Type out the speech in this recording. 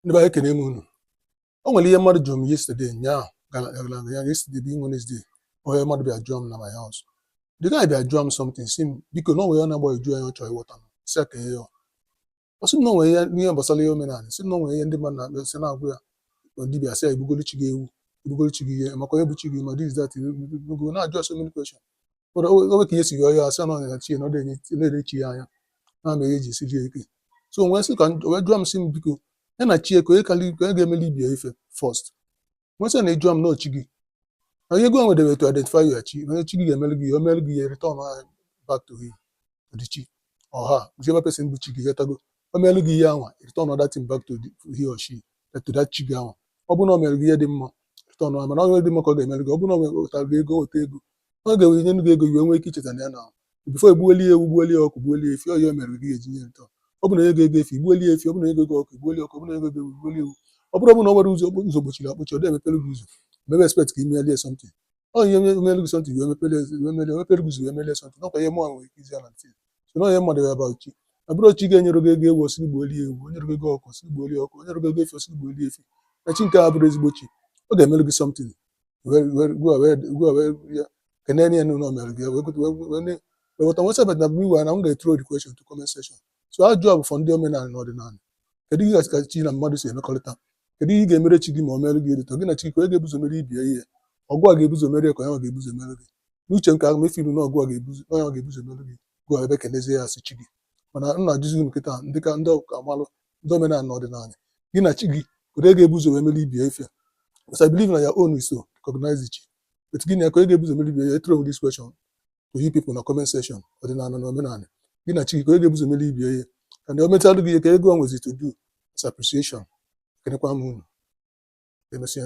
ndị be anyị ekene m unu o nwere ihe mmadụ jụrụ m yesterday nyaa gara aga na ya yesterday bụ Wednesday onye mmadụ bịa jụọ m na my house the guy bịa jụọ m something sị m biko na o nwere ihe na-agbagwoju anya ọ chọrọ ịghọta m sị ya ka ihe ya ọ sị m na o nwere ihe n'ihe gbasara ihe omenala sị m na o nwere ihe ndị mmadụ na-akpa sị na-agwa ya na dibịa sị ya i gbugolu chi gị ewu i gbugolu chi gị ihe ị makwa onye bụ chi gị ma this that go na-ajụ ya so many questions o wee ka ihe si yọọ ya asị na ọ ya chi na ọ na-ele chi ya anya na ama ihe ji siri ike so wee sị ka wee jụọ m sị m biko ya na chi ya kee onye karị kee onye ga-emeli ibe ya ife first m wee sị na ị jụọ m na chi gị na ihe ị ga-enwedebe to identify your chi onye chi gị ga-emeli gị ihe o meli gị ihe returnụọ back to him the chi or her whichever person bụ chi gị ị ghọtago o meli gị ihe anwa return that thing back to the, he or she to that chi gị anwa ọ bụrụ na o mere gị ihe dị mma returnụọ mana ọ dị mma ka ọ ga-emeli gị ọ bụrụ na o wetara gị ego weta ego ọ ga-ewee nye gị ego i wee nwee ike icheta na ya na before e gbuolie ewu gbuolie ọkụ gbuolie efi ọ ihe o mere gị ị ga-eji nye return ọ bụ na ego ego efi gbuolie efi ọ bụ na ego ego ọkụ gbuolie ọkụ ọ bụ na ego ego ewu gbuolie ewu ọ bụrụ ọ bụ na ọ nwere ụzọ ụzọ gbochiri akpọchi ọ dị emepere gị ụzọ maybe expect ka i melie something ọ ihe o mere gị something wee mepere wee melie mepere gị ụzọ wee melie something ọ kwa ihe mụọ nwere ike izi ya na ntị so na ihe m gwalụ ya about chi ọ bụrụ chi gị nyere gị ego ewu ọ sị gị gbuolie ewu o nyere gị ego ọkụ ọ sị gị gbuolie ọkụ o nyere gị ego efi ọ sị gị gbuolie efi na chi nke a bụrụ ezigbo chi ọ ga-emere gị something kenene ya n'ihe o mere gị weweta nwesa but na bụrụ iwe na m ga-ethrow the question to comment section so ajụjụ a bụ for ndị omenala na ọdịnala kedu ihe gasị ka chi na mmadụ si emekọrịta kedu ihe ị ga-emere chi gị ma o mere gị edito gị na chi gị kee onye ga-ebu ụzọ mere ibe ya ihe ọ gị ga-ebu ụzọ mere ya ka ọ ya ga-ebu ụzọ mere gị n'uche nke ahụ mefe ilu na ọ bụ ya ga-ebu ụzọ ọ ya ga-ebu ụzọ mere gị gị abịa kenezie ya as chi gị mana m na-ajụzi unu kịta ndị ka ndị ọka amalụ ndị omenala na ọdịnala gị na chi gị kedu onye ga-ebu ụzọ wee mere ibe ya ife because I believe na your own is to recognize chi but gị na ya kee onye ga-ebu ụzọ mere ibe ya ife throw this question to you people na comment section ọdịnala na omenala gị na chi gị kedu onye ga-ebu ụzọ mere ibe ya ife and o metalụ gị ihe ka ị ga-enwezi to do is appreciation ekenekwa m unu emesịa